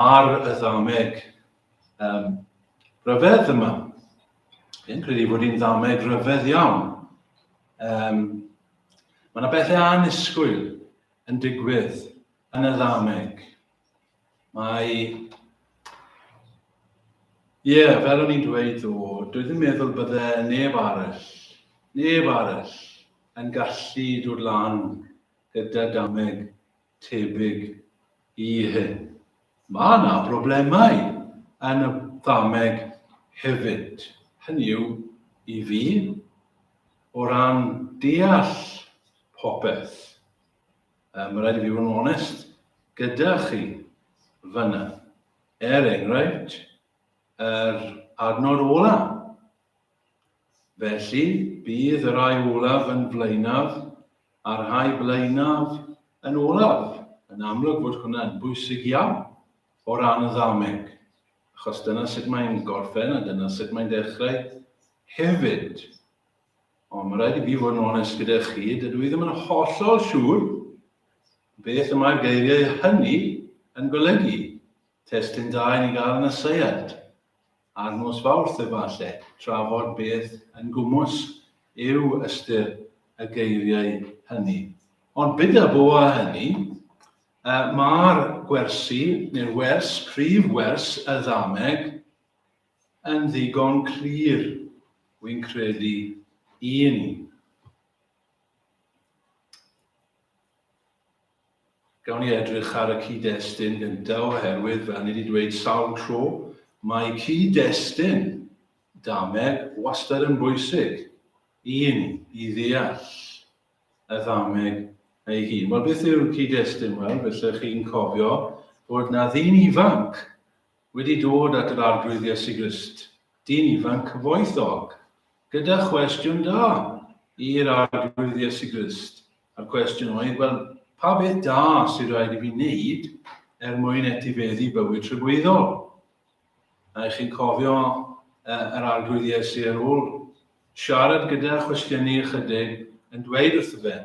ar y ddameg um, rhyfedd yma. Fi'n credu bod hi'n ddameg rhyfedd iawn. Um, mae yna bethau anisgwyl yn digwydd yn y ddameg. Mae... Ie, yeah, fel o'n i'n dweud o, dwi ddim meddwl bydde neb arall, neb arall yn gallu dod lan gyda dameg tebyg i hyn. Mae yna broblemau yn y Fframeg hefyd, hynny yw, i fi, o ran deall popeth. Mae rhaid i fi fod yn onest gyda chi fyna. Er enghraifft, yr adnod ola'. Felly, bydd y rhai olaf yn flaenaf a'r rhai blaenaf yn olaf. Yn amlwg fod hwnna'n bwysig iawn o ran y ddameg, achos dyna sut mae'n gorffen a dyna sut mae'n dechrau hefyd. Ond mae rhaid i fi fod yn onest gyda chi, dydw i ddim yn hollol siŵr beth y mae'r geiriau hynny yn golygu. Testyn da i ni gael yn y seiad. Ar nos Fawrth efalle, trafod beth yn gwmws yw ystyr y geiriau hynny. Ond bydda bo â hynny, mae'r gwersi, neu'r wers, prif wers y ddameg, yn ddigon clir, wy'n credu, i ni. Gawn ni edrych ar y cyd-destun gynta oherwydd, fel ni 'di dweud sawl tro, mae cyd-destun dameg wastad yn bwysig i ni i ddeall y ddameg ei hun. Wel, beth yw'r cyd-destun? Wel, felly chi'n cofio bod 'na ddyn ifanc wedi dod at yr Arglwydd Iesu Grist, dyn ifanc cyfoethog, gyda chwestiwn da i'r Arglwydd Iesu Grist. A'r cwestiwn oedd, wel, pa beth da sydd rhaid i fi wneud er mwyn etifeddu bywyd trybwyddol? A chi'n cofio yr arglwydd Iesu ar ôl siarad gyda chwestiynu ychydig yn dweud wrtho fe,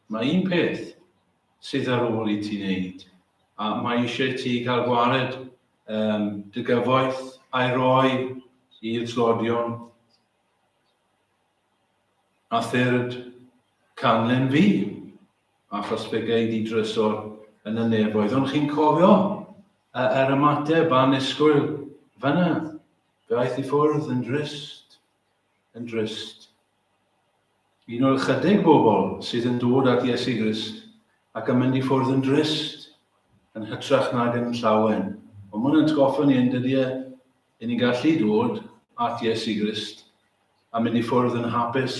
mae un peth sydd ar ôl i ti wneud, a mae eisiau ti cael gwared um, dy gyfoeth a'i roi i'r tlodion. a third canlyn fi, achos fe gei di drysor yn y nefoedd. Ond chi'n cofio y, yr ymateb a nisgwyl fyna? Fe aeth i ffwrdd yn drist, yn drist. Un o'r chydig bobl sydd yn dod at Iesu Grist ac yn mynd i ffwrdd yn drist, yn hytrach nag yn llawen. Ond mae'n atgoffa ni yn dydy e, Y'n ni'n gallu dod at Iesu Grist a mynd i ffwrdd yn hapus,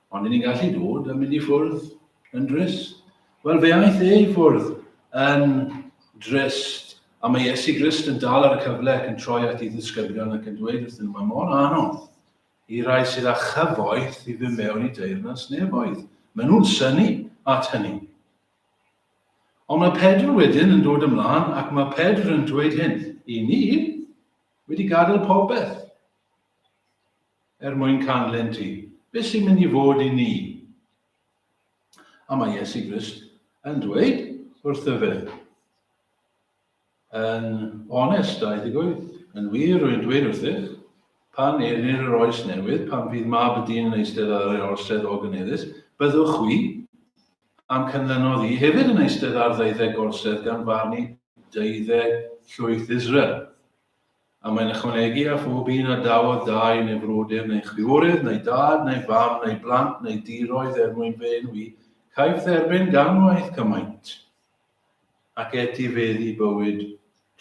ond y'n ni'n gallu dod a mynd i ffwrdd yn drist. Wel, fe aeth e i ffwrdd yn drist, a mae Iesu Grist yn dal ar y cyfle ac yn troi at ei ddisgyblion ac yn dweud wrthyn nhw, mae mor anodd i rai sydd â chyfoeth i fy mewn i deyrnas nefoedd. Maen nhw'n syni at hynny. Ond mae Pedr wedyn yn dod ymlaen ac mae Pedr yn dweud hyn, Y ni wedi gadael popeth er mwyn canlen ti. Beth sy'n mynd i fod i ni? A mae Iesu Grist yn dweud wrtho fe, Yn onest a ddigwydd, yn wir rwy'n dweud wrthych, pan elir yr oes newydd, pan fydd mab y dyn yn eistedd ar ei orsedd ogyneddus, byddwch chwi, a'm cynlynnodd i, hefyd yn eistedd ar ddeuddeg gorsedd gan farnu deuddeg llwyth Israel. A mae'n ychwanegu, a phob un a dawodd dau neu frodyr neu chwiorydd neu dad neu fam neu blant neu diroedd er mwyn fy enw i, caiff dderbyn gan waith cymaint. ac etifeddu i bywyd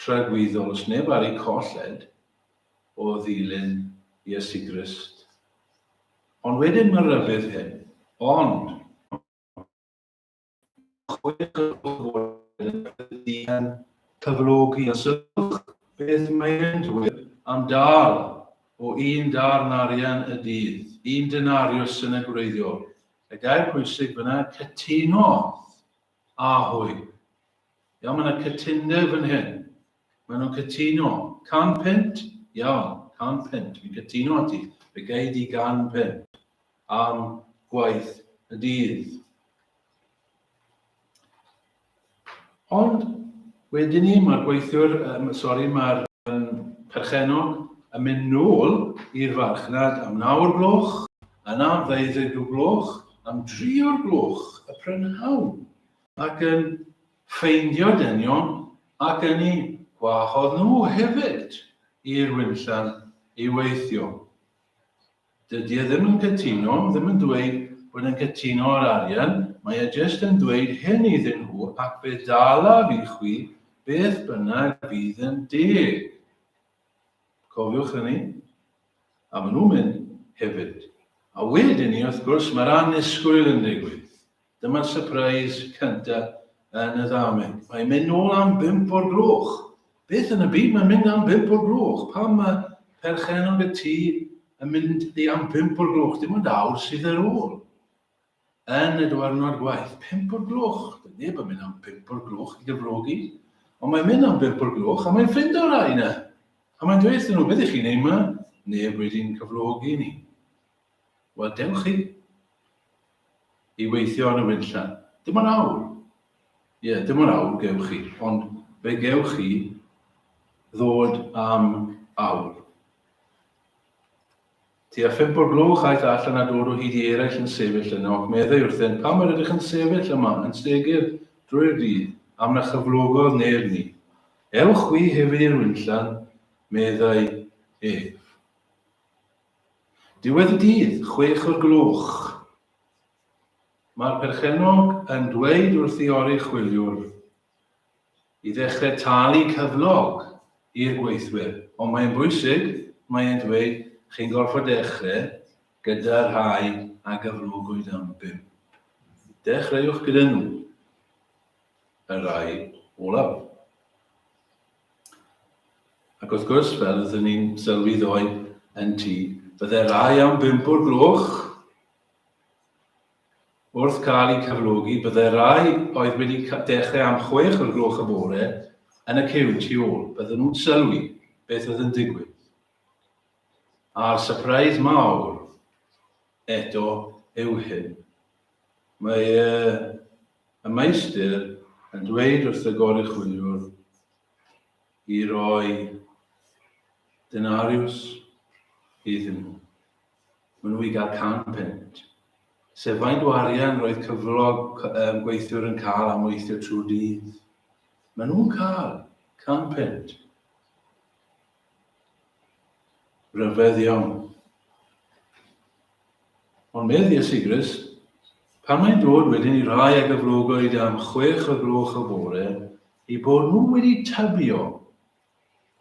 tragwyddol os neb ar eu colled o ddilyn Iesu Grist. Ond wedyn mae'r rhybudd hyn, ond chwech o'r gloch y bore yn credu yn cyflogi a sylwch beth mae e'n dweud am dâl o un darn arian y dydd, un denarius yn y gwreiddiol. Y gair pwysig fyna, cytunodd A hwy. Iawn, mae yna cytundeb fan hyn. Mae nhw'n cytuno. Can punt? Iawn, can punt. Fi'n cytuno â ti. Fe gei di gan punt am gwaith y dydd. Ond Wedyn ni mae'r gweithiwr, yym sori mae'r yym perchennog yn mynd nôl i'r farchnad am nawr gloch, yna am ddeuddeg o gloch, am dri o'r gloch y prynhawn, ac yn ffeindio dynion ac yn eu gwahodd nhw hefyd i'r Winllan i weithio. Dydi e ddim yn cytuno, ddim yn dweud bod e'n cytuno ar arian, mae e jyst yn dweud hyn iddyn nhw ac fe ddalaf i chwi beth bynnag fydd yn deg. Cofiwch hynny. A maen nhw'n mynd hefyd. A wedyn ni, wrth gwrs, mae'r annisgwyl yn digwydd. Dyma'r sypreis cynta yn y ddameg. Mae'n mynd nôl am bump o'r gloch. Beth yn y byd mae'n mynd am bump o'r gloch? Pam mae perchennog y tŷ yn mynd i am bump o'r gloch? Dim ond awr sydd ar ôl. Yn y diwrnod gwaith, pump o'r gloch. Dyna neb yn mynd am bump o'r gloch i gyflogi. Ond mae'n mynd am bump o'r gloch a mae'n ffrind o'r rhai yna. A mae'n dweud wrthyn nhw, beth ych chi'n ei yma? Neb wedi'n cyflogi ni. Wel, dewch chi i weithio yn y winlla. Dim ond awr. Ie, yeah, dim ond awr gewch chi, ond fe gewch chi ddod am awr. Ti a phimp o'r gloch aeth allan a dod o hyd i eraill yn sefyll yno, ac meddai wrthyn, pam yr ydych yn sefyll yma, yn stegur drwy'r dydd, am na chyflogodd neb ni. Ewch wi hefyd i'r winllan, meddai ef. Diwedd y dydd, chwech o'r gloch, mae'r perchennog yn dweud wrth ei oruchwyliwr i ddechrau talu cyflog i'r gweithwyr. Ond mae'n bwysig, mae e'n dweud, chi'n gorfod dechrau gyda'r rhai a gyflogwyd am bump. Dechreuwch gyda nhw, y rhai olaf. Ac wrth gwrs, fel rydyn ni'n sylwi ddoe yn ti, byddai rai am bump o'r gloch. Wrth cael eu cyflogi, byddai rai oedd wedi dechrau am chwech o'r gloch y bore yn y cyw tu ôl. Bydden nhw'n sylwi beth oedd yn digwydd. A'r surprise mawr eto yw hyn. Mae uh, Y meistr yn dweud wrth y goruchwyliwr i roi denariws iddyn nhw. Maen nhw i gael can punt, sef faint o arian roedd cyflog um, gweithiwr yn cael am weithio trwy'r dydd. Maen nhw'n cael can punt. Rhyfedd iawn. Ond medd Iesu Grist, pan mae'n dod wedyn i rai ag y flogoed am chwech o gloch y bore, i bod nhw wedi tybio,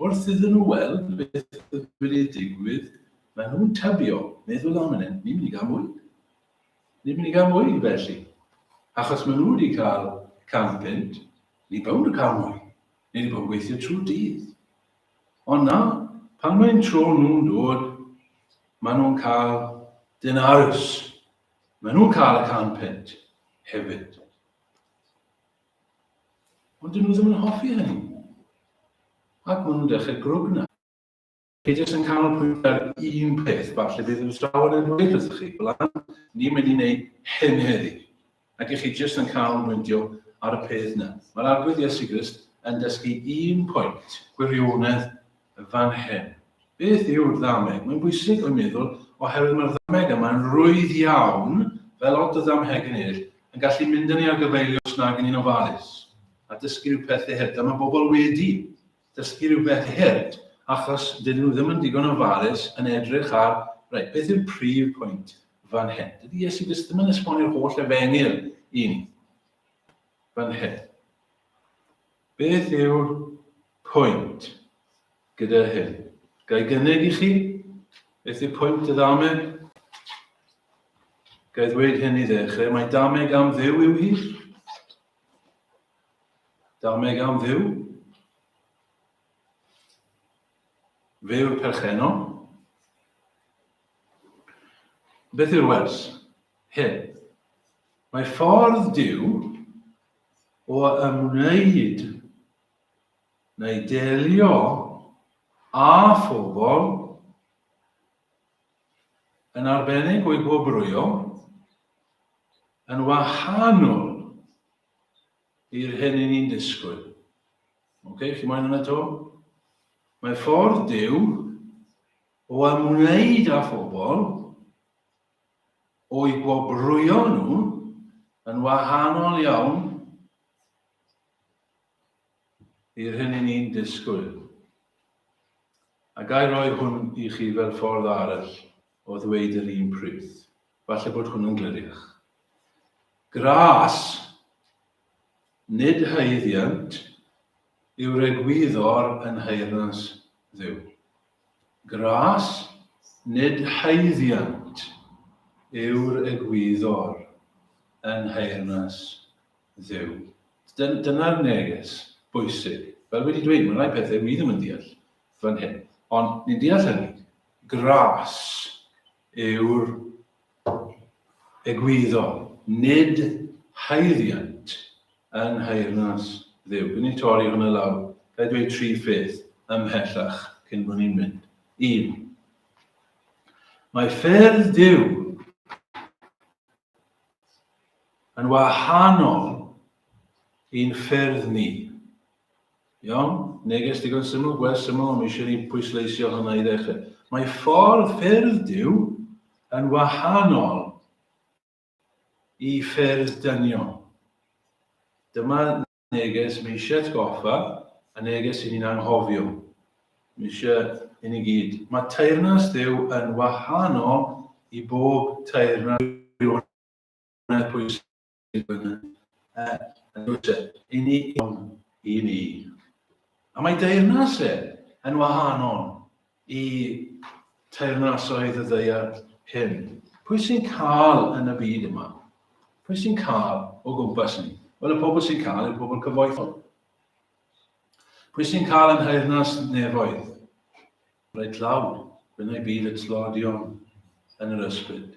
wrth iddyn nhw weld beth oedd wedi digwydd, mae nhw'n tybio, meddwl am hynny, ni'n mynd i gael mwy. Ni'n mynd i gael mwy felly. Achos mae nhw wedi cael can punt, ni bawn yn cael mwy. Ni wedi bod yn gweithio trwy dydd. Ond na, pan mae'n tro nhw'n dod, maen nhw'n cael dyn arws. Maen nhw'n cael y can punt hefyd. Ond dyn nhw ddim yn hoffi hynny. Ac maen nhw'n dechrau grwgna. Chi jyst yn canolbwyntio ar un peth, falle bydd y sawon yn dweud wrthych chi, Blan, ni'n mynd i wneud hyn heddi. Ac i chi jyst yn cael meindio ar y peth 'na. Mae'r Arglwydd Iesu Grist yn dysgu un pwynt. Gwirionedd yn fan hyn. Beth yw'r ddameg? Mae'n bwysig, rwy'n meddwl, oherwydd mae'r ddameg yma yn rwydd iawn, fel lot o ddamhegyn eraill, yn gallu mynd â ni ar gyfeiliorys nag yn ni'n ofalus, a dysgu rhyw pethau hir. Dyma bobl wedi dysgu rhywbeth i hurt, achos dydyn nhw ddim yn digon ofalus yn edrych ar, reit, beth yw'r prif pwynt fan hyn? Dydy Iesu Grist ddim yn esbonio'r holl efengyl i ni fan hyn. Beth yw'r pwynt gyda hyn? Gai gynnig i chi? Beth yw'r pwynt y ddameg? Gai ddweud hyn i ddechrau, mae dameg am ddew yw hi. Dameg am fyw. Fe yw'r perchenno. Beth yw'r wers? Hyn. Mae ffordd Dyw o ymwneud neu delio â phobl yn arbennig o'i gwobrwyo yn wahanol i'r hyn i ni'n disgwyl. Ok, chi moyn hwnna to? Mae ffordd Duw o ymwneud â phobl o'i gwobrwyo nhw yn wahanol iawn i'r hyn i ni'n disgwyl. A gael rhoi hwn i chi fel ffordd arall o ddweud yr un pryd. Falle bod hwnnw'n gliriach. Gras, nid haeddiant, yw'r egwyddor yn nheyrnas Dduw. Gras, nid haeddiant, yw'r egwyddor yn nheyrnas Dduw. Dyna'r neges bwysig. Fel wedi dweud, mae rhai pethau wi ddim yn deall fan hyn, ond ni'n deall hynny. Gras, yw'r egwyddor, nid haeddiant yng nghaernarth Dduw. Gwn i'n torri hwnna lawr. Ga i dweud tri pheth ymhellach cyn bod ni'n mynd? Un. Mae ffyrdd Duw yn wahanol i'n ffyrdd ni. Iawn? Neges digon syml, gwers syml, ond mi eisiau ni pwysleisio hynna i ddechrau. Mae ffordd ffyrdd Dyw yn wahanol i ffyrdd dynion. Dyma neges mi eisiau atgoffa, a neges i ni'n anghofio. Mi eisiau i ni gyd. Mae teirnas Dyw yn wahanol i bob teirnas pwysau. i ni. A mae deyrnas e yn wahanol i teyrnasoedd y ddaear hyn. Pwy sy'n cael yn y byd yma? Pwy sy'n cael o gwmpas ni? Wel, y pobl sy'n cael yw'r pobl cyfoethol. Pwy sy'n cael yn nheyrnas nefoedd? Reit lawr, fe wna i byd y tlodion yn yr ysbryd.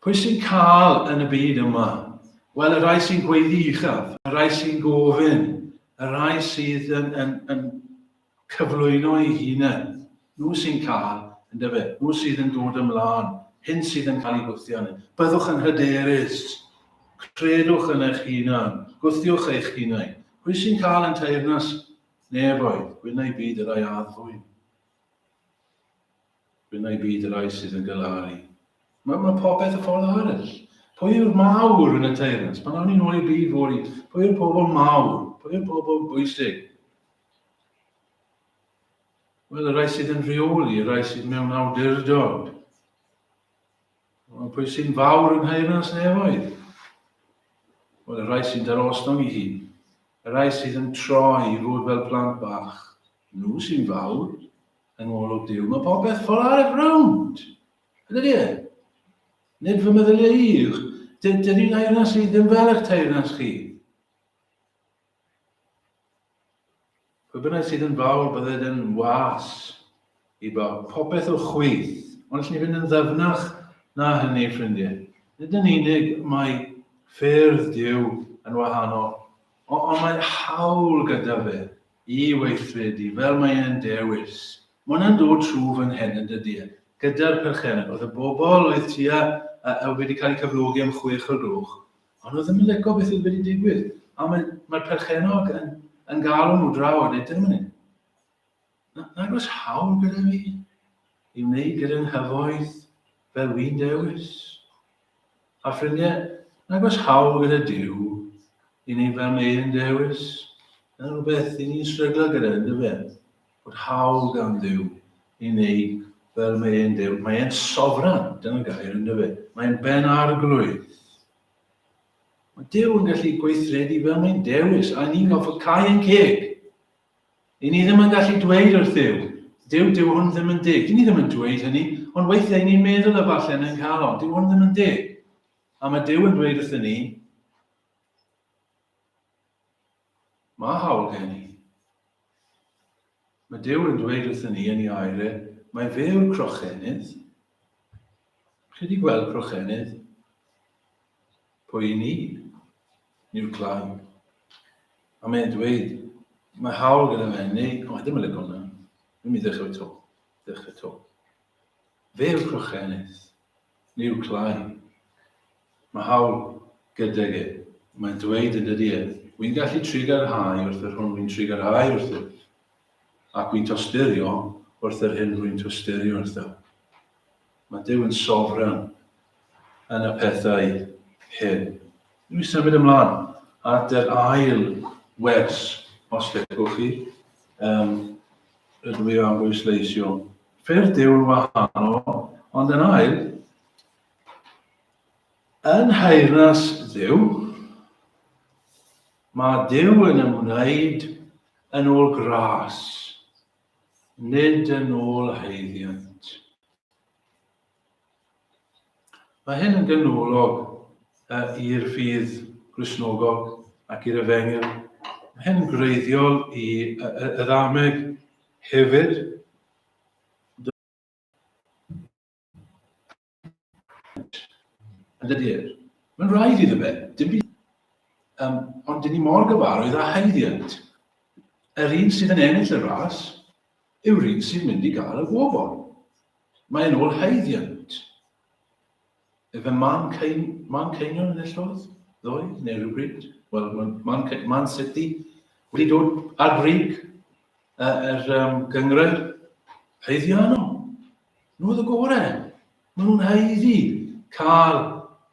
Pwy sy'n cael yn y byd yma? Wel, y rhai sy'n gweiddi uchaf, y rhai sy'n gofyn, y rhai sydd yn, yn, yn cyflwyno ei hunain, nhw sy'n cael, yn dyfe, nhw sydd yn dod ymlaen, hyn sydd yn cael ei gwthio ni. Byddwch yn hyderus, credwch yn eich hunan, gwthiwch eich hunain. Pwy sy'n cael yn teirnas Nefoedd, gwyn a'i byd yr ai addfwyn. Gwyn a'i byd yr ai sydd yn galaru. Mae, mae popeth y ffordd arall. Pwy yw'r mawr yn y teirans? Pan awn ni'n ôl i'r byd fwy, pwy yw'r pobl mawr? Pwy yw'r pobl bwysig? Wel, y rai sydd yn rheoli, y rai sydd mewn awdurdod. Mae pwy sy'n fawr yn nheyrnas nefoedd? Wel, y rhai sy'n darosnol i hun. Y rhai sydd yn troi i fod fel plant bach. Nhw sy'n fawr. Yng ngolwg Duw, mae popeth ffol ar y rownd. Ydy di e? Nid fy meddyliau i yw. Dydy nheyrnas i ddim fel eich teyrnas chi. Pwy bynnag sydd yn fawr, bydded yn was i bawb. Popeth o chwyth. Ond allwn ni fynd yn ddyfnach na hynny, ffrindiau. Nid yn unig mae ffyrdd Dyw yn wahanol, ond mae hawl gyda fe i weithredu fel mae e'n dewis. Mae hwnna'n dod trwy fy nghen yn dydy e, gyda'r perchennog. Oedd y bobl oedd tua, uh, wedi cael eu cyflogi am chwech o'r gloch, Ond nhw ddim yn licio beth sydd wedi digwydd. A mae, mae perchenog yn, yn galw nhw draw a dweud, dyn nhw'n hyn. Nag oes hawl gyda fi i wneud gyda'n nghyfoeth fel wy'n dewis. A ffrindiau, nag oes hawl gyda Dyw i wneud fel mae'n dewis. Dyna rhywbeth i ni'n stryglo gyda, yn dyfe? bod hawl gan Dduw i wneud fel mae e'n Duw. Mae e'n sofran, dyna'n gair yn dyfe. Mae e'n ben arglwydd. Mae Duw yn gallu gweithredu fel mae'n dewis, a ni'n gofod cael ein ceg. I ni ddim yn gallu dweud wrth Dduw, Duw, Duw hwn ddim yn dig. Dyn ni ddim yn dweud hynny, ond weithiau ni'n meddwl y falle yn ein calon, Duw hwn ddim yn dig. A mae Duw yn dweud wrth ni, Mae hawl gen i. Mae Duw yn dweud wrthyn ni yn ei aire, mae fe yw'r crochennydd. Chi wedi gweld crochennydd? Pwy i ni? Ni'r clai. A mae'n dweud, mae hawl gyda fe, neu, o, ddim yn lygo hwnna. Dwi'n mynd i ddechrau to. Ddechrau to. Fe yw'r crochennydd. Miw Clai. Mae hawl gydag e. Mae'n dweud yn dydy e, wi'n gallu trigarhau wrth yr hwn wi'n trigarhau wrtho, ac wi'n tosturio wrth yr hyn rwy'n tosturio wrtho. Mae Duw yn sofran yn y pethau hyn. Dwi'n symud ymlaen at yr ail wers, os lecwch chi. Um, rydw i am bwysleisio Ffyrdd yw'n wahanol, ond yn ail, yn nheyrnas Dduw, mae Duw yn ymwneud yn ôl gras, nid yn ôl haeddiant. Mae hyn yn ganolog i'r ffydd Gristnogol ac i'r Efengyl. Mae hyn yn greiddiol i y ddameg hefyd. Yn dydy e? Mae'n rhaid iddo fe, dim byd. Um, ond dyn ni mor gyfarwydd â haeddiant. Yr un sydd yn ennill y ras, yw'r un sy'n mynd i gael y gofod. Mae e'n ôl haeddiant. Efe Man Cain, Man Cainion enillodd ddoe, neu rhywbryd. Wel, mae Man, Man City wedi dod ar brig yr er, um, gyngred haeddiano. Nhw oedd y gorau. Maen nhw'n haeddu cael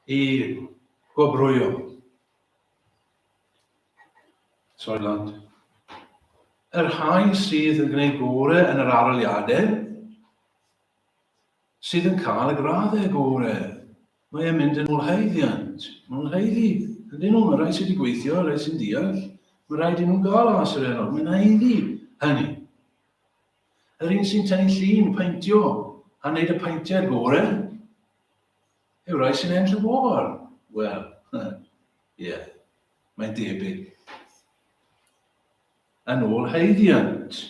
eu gwobrwyo. Soiland. Yr rhai sydd yn gwneud gore yn yr aroliadau sydd yn cael y graddau gore. Mae e'n mynd yn ôl haeddiant. Mae nhw'n haeddu. Ydyn nhw, mae rhai sydd wedi gweithio, rhai sy'n deall. Mae rhaid i nhw'n gael as yr enw. Mae'n haeddu hynny. Yr un sy'n tynnu llun, paentio, a wneud y paentiad gore, yw rai sy'n enll y bobl. Wel, Ie, mae'n debyg. Yn ôl haeddiant.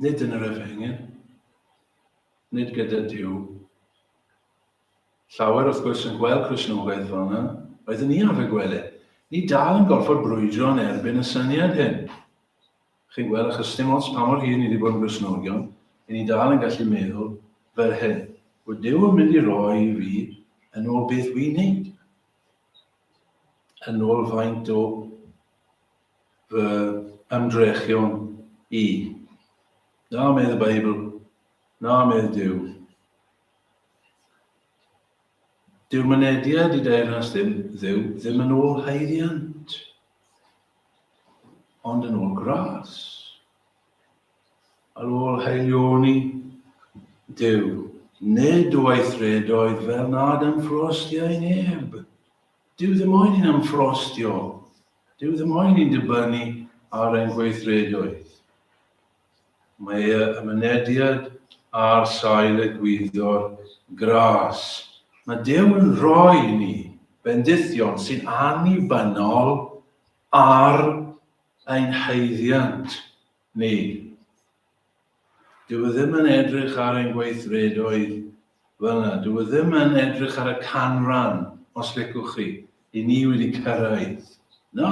Nid yn yr efengyl, nid gyda Dyw. Llawer, wrth gwrs, yn gweld Cresnogaidd fel yna, oedd yn iaf y gwele. Ni dal yn gorfod brwydro yn erbyn y syniad hyn. Chi'n gweld, achos sdim ots pa mor hir ni 'di bod yn Gristnogion, 'yn ni dal yn gallu meddwl fel hyn, 'Wy Duw yn mynd i roi i fi yn ôl beth wy'n neud, yn ôl faint o fy ymdrechion i. Na, medd y Beibl, na, medd Duw. Dyw mynediad i deyrnas ddim, dduw, ddim yn ôl haeddiant, ond yn ôl gras. Ar ôl haelioni, dyw, nid o weithredoedd fel nad ymffrostiau neb. Dyw ddim oed yn ymffrostio, dyw ddim oed yn dibynnu ar ein gweithredoedd. Mae y mynediad ar sail egwyddor gras mae Duw yn rhoi i ni bendithion sy'n annibynnol ar ein haeddiant ni. Dyw e ddim yn edrych ar ein gweithredoedd fel yna. Dyw e ddim yn edrych ar y canran, os licwch chi, i ni wedi cyrraedd. Na!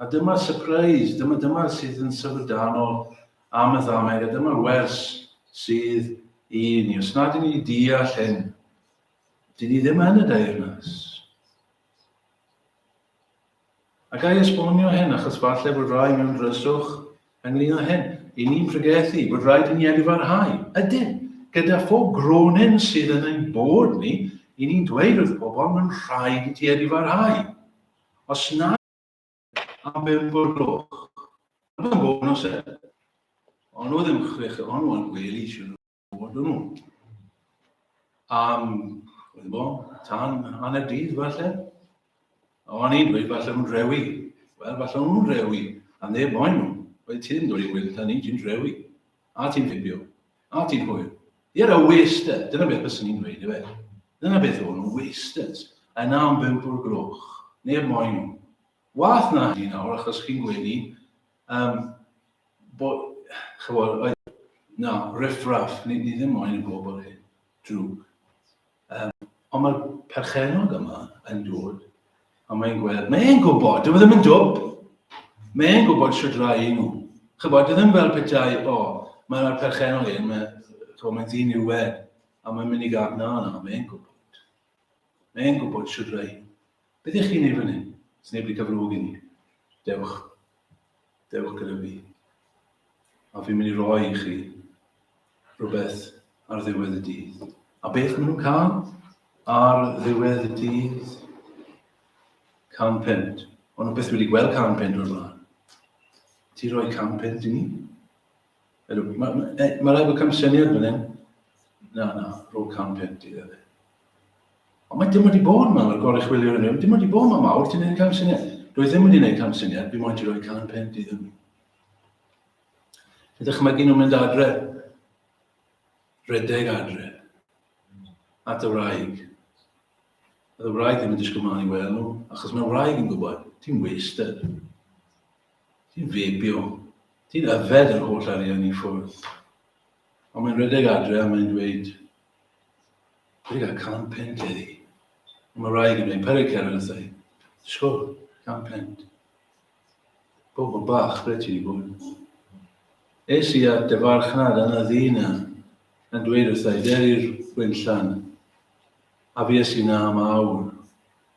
A dyma'r sypreis, dyma dyma sydd yn syfrdanol am y ddameg, a dyma'r wers sydd i ni. Os nad ydyn ni wedi deall hyn, dyn ni ddim yn y deyrnas. A ga i esbonio hyn, achos falle bod rai mewn dryswch Ynglŷn â hyn, i ni'n pregethu bod rhaid i ni edfarhau, ydyn, gyda phob gronin sydd yn ein bod ni, i ni'n dweud wrth bobl mae'n rhaid i ti edfarhau. Os na am bump o'r gloch. Mae'n bonws e. Ond nhw ddim chwech, ond nhw'n gwely, siwr. Bod nhw. Am, wedi bo, tan hanner dydd falle. O'n i'n dweud falle nhw'n rewi. Wel, falle nhw'n rewi, a neb moyn nhw. Oedd ti'n dod i wyllt a ni, ti'n rewi. A ti'n fibio. A ti'n hwyl. Ie, a wasted. Dyna beth bys ni'n dweud, efe. Dyna beth o'n nhw, wasted. A yna am bimp o'r gloch. Neb moyn nhw. Wath na hynny nawr, achos chi'n gwenu, Um, bo, chybod, oedd, na, riffraff, ni, ni ddim moyn y bobl hyn, drwg. Um, ond mae'r perchenog yma yn dod, a mae'n gweld, mae'n gwybod, dyw e ddim yn dwb, mae'n gwybod sydd rai i nhw. Chybod, ddim fel pethau, o, oh, mae'r perchenog hyn, mae'n mae, mae ddyn i'w wed, a mae'n mynd i gael, na, na, mae'n gwybod. Mae e'n gwybod shwd rai. Be dych chi'n ei fan hyn? Sneb wedi cyfrwg i ni. Dewch. Dewch gyda fi. A fi'n mynd i roi i chi rhywbeth ar ddiwedd y dydd. A beth maen nhw'n cael ar ddiwedd y dydd? Can pent. Ond nhw beth wedi gweld can pent o'r blaen. Ti roi can pent i ni? Mae ma, e, ma rhaid bod camsyniad fan hyn. Na, na, rôl cam pent i ddefnydd. Ond mae dim wedi bod yma, mae'r gorau chwilio yn dim wedi bod yma mawr, ti'n gwneud camsyniad. Rwy'n ddim wedi gwneud camsyniad, fi moyn ti roi can pent i ddefnydd. Fe dychmygu nhw'n mynd adre, redeg adre, at y wraig. Oedd y wraig ddim yn disgwyl mlaen i weld nhw, achos mae wraig yn gwybod, ti'n wasted. Ti'n feibio. Ti'n yfed yr holl arian i ffwrdd. Ond mae'n rhedeg adre a mae'n dweud, Dwi wedi cael can pent heddi. Ond mae rhaid i mi peri cerdd wrthai. Sgwr, can pent. Bobl bach, ble ti wedi bod? Es i at dy farchnad yn y ddi na, yn dweud wrthai, der i'r gwynllan. A fues i na am awr.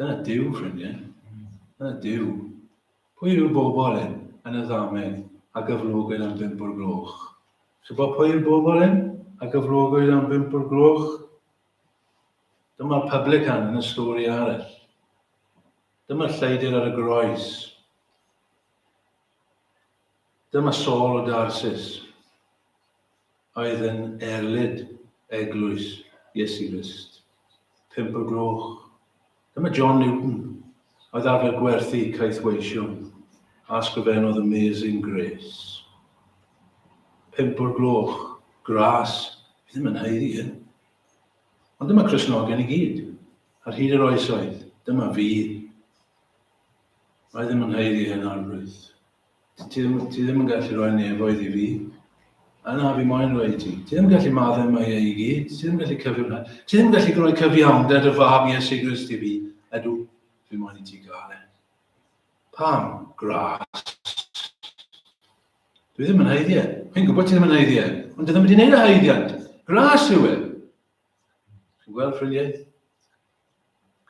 Dyna Duw, ffrindiau. Dyna Duw. Pwy yw'r bobl hyn, yn y ddamedd, a gyflogwyd am bump o'r gloch? Chi'n bod pwy yw'r bobl hyn, a gyflogwyd am bump o'r gloch? Dyma'r publican yn y stori arall. Dyma'r lleidr ar y groes. Dyma sawl o Darsis oedd yn erlid eglwys Iesu Grist. Pump o'r gloch. Dyma John Newton, oedd arfer gwerthu caethweision, a ysgrifennodd Amazing Grace. Pump o'r gloch. Gras. Fi ddim yn haeddu hyn. Ond dyma Cristnogion i gyd, ar hyd yr oesoedd. Dyma fi. Mae ddim yn haeddu hen arglwydd. Ti, ti, ddim, ti ddim yn gallu rhoi nefoedd i fi. A na, fi moyn rhoi i ti. Ti ddim yn gallu maddau mae ei i gyd. Ti ddim yn gallu cyfio'n hynny. Ti ddim yn gallu rhoi cyfiawnder y fab Iesu Grist i fi. Edw, fi moyn i ti gael e. Pam? Gras. Dwi ddim yn haeddu e. Fi'n gwybod ti ddim yn haeddu e. Ond dwi ddim wedi gwneud y haeddiant. Gras yw e. Chi'n gweld ffrindiau?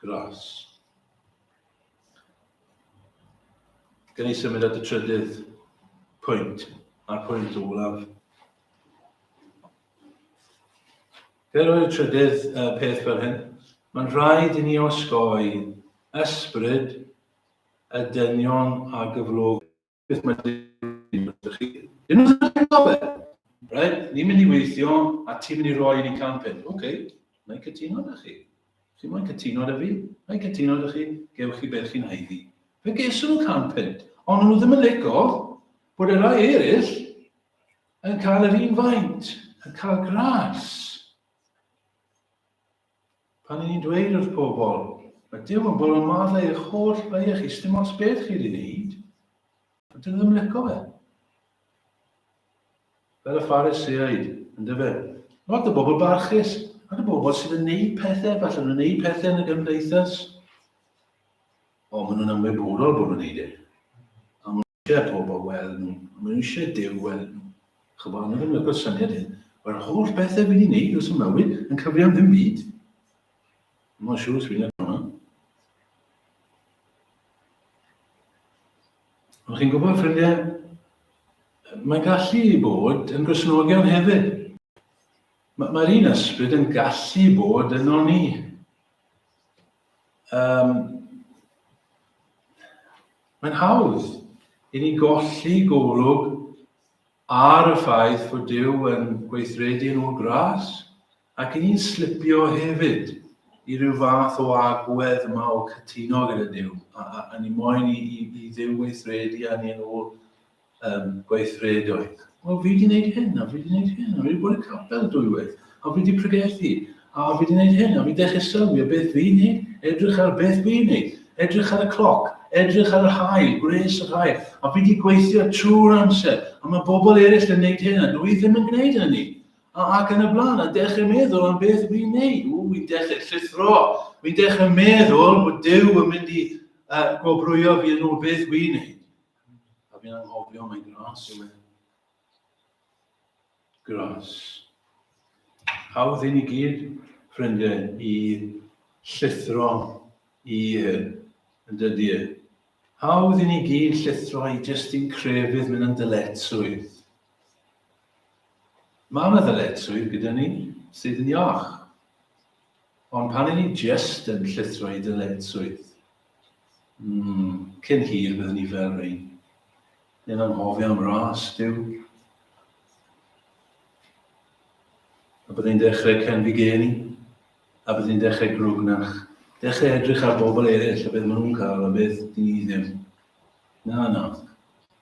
Gras. Gan i symud at y trydydd pwynt, a'r pwynt olaf. Fe roi'r trydydd uh, peth fel hyn. Mae'n rhaid i ni osgoi ysbryd y dynion a gyflog beth mae dim ydych chi. Dim ydych chi'n cael e. Right? Ni'n mynd i weithio a ti'n mynd i roi i ni can peth. Oce, okay. mae'n cytuno ydych chi. Chi mae'n cytuno ydych fi, mae'n cytuno ydych chi, gewch chi beth chi'n haeddi. Fe geswn nhw can peth, ond nhw ddim yn licio bod y rai eraill yn cael yr un faint, yn cael gras. Pan y'n ni'n dweud wrth pobl, mae Duw yn bolo maddau eich holl beiau chi, sdim ots beth chi wedi wneud, a dyn nhw ddim yn lico fe. Fel y Phariseaid, yn dyfe. Lot o bobl barchus, ac y bobl sydd yn neud pethau, falle nhw'n neud pethau yn y gymdeithas, o, maen nhw'n ymwybodol bod nhw'n neud e. Ie pobl wel nhw ma' nhw eisiau Duw wel nhw ch'bo a ma' ddim yn agor syniad iddyn nhw ma'r holl bethe fi'n neud dros y mywyd yn cyfri am ddim byd mor siŵr os fi'n neud hwnna ond chi'n gwybod ffrindiau mae'n gallu bod yn grisnogion hefyd mae'r un ysbryd yn gallu bod yno ni Um, mae'n hawdd i ni golli golwg ar y ffaith fod Dyw yn gweithredu yn ôl gras ac i ni'n slipio hefyd i ryw fath o agwedd yma o cytuno gyda Dyw a, a, a ni moyn i, i, i Dduw weithredu a ni yn ôl um, gweithredoedd. O, fi wedi gwneud hyn, a fi wedi gwneud hyn, a fi wedi bod y capel dwywaith, a fi wedi pregethu, a fi wedi gwneud hyn, a fi dechrau sylwi o beth fi'n neud, edrych ar beth fi'n neud, edrych ar y cloc, edrych ar yr hael, gwres yr hael, a fi wedi gweithio trwy'r amser, a mae bobl eraill yn neud hyn, a dwi ddim yn gwneud hynny. A ac yn y blaen, a dechrau meddwl am beth fi'n neud. O, fi'n dechrau llithro, fi'n dechrau meddwl bod Dyw yn mynd i uh, gwobrwyo fi yn ôl beth fi'n neud. A fi'n anghofio mae'n gras yw e. Gras. Hawdd i ni gyd, ffrindiau, i llithro i hyn, yn dydy e. Hawdd i ni gyd llithro i jyst i'n crefydd mynd yn dyletswydd. Mae yna ddyletswydd gyda ni sydd yn iach. Ond pan i ni jyst yn llithro i dyletswydd, Mm, cyn hir byddwn ni fel rhain. Yn anghofio am ras, byw. A byddwn dechrau cenfi geni, a byddwn dechrau grwgnach, dechrau edrych ar bobl eraill a beth maen nhw'n cael a beth dyn ni ddim. Na, na,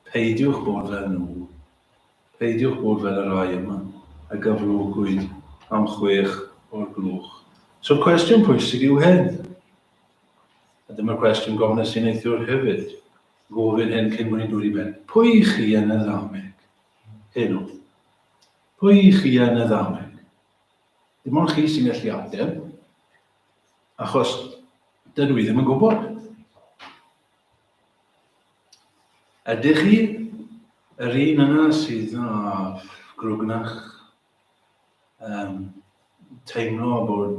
peidiwch bod fel nhw. Peidiwch bod fel y rai yma, a gyflogwyd am chwech o'r gloch. So cwestiwn pwysig yw hyn. A dyma cwestiwn gofnes i neithiwr hefyd. Gofyn hyn cyn bod ni'n dod i ben. Pwy i chi yn y ddameg? Hyn oedd. Pwy i chi yn y ddameg? Dim ond chi sy'n gallu ateb, achos dydw i ddim yn gwybod. Ydych chi yr un yna sydd â grwgnach um, teimlo bod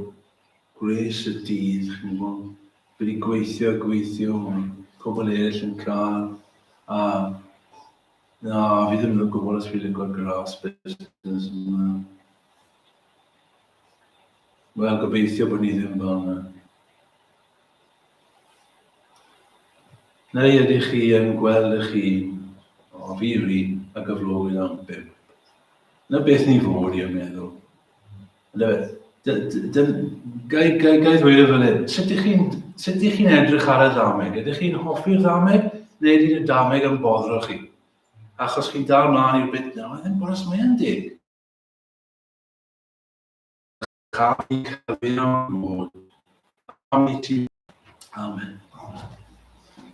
gwres y dydd, chi'n gwybod, wedi gweithio, gweithio, mae pobl eraill yn cael, a na, fi ddim yn gwybod os fi'n gwybod gras busnes yma. Wel, gobeithio bod ni ddim fel yna. Neu ydych chi yn gweld ych hun, o fi ri, a gyflogyd am bimp. Na beth ni fod i'n meddwl. Gai ddweud o fan hyn, sut ych chi'n sut ych chi'n edrych ar y ddameg? Ydych chi'n hoffi'r ddameg neu ydy'r y ddameg yn boddro chi? Achos chi'n dal mlaen i'r bit na, mae ddim boros mae yn deg. Cael ei cyfyn am mod. Am i ti. Amen. Amen.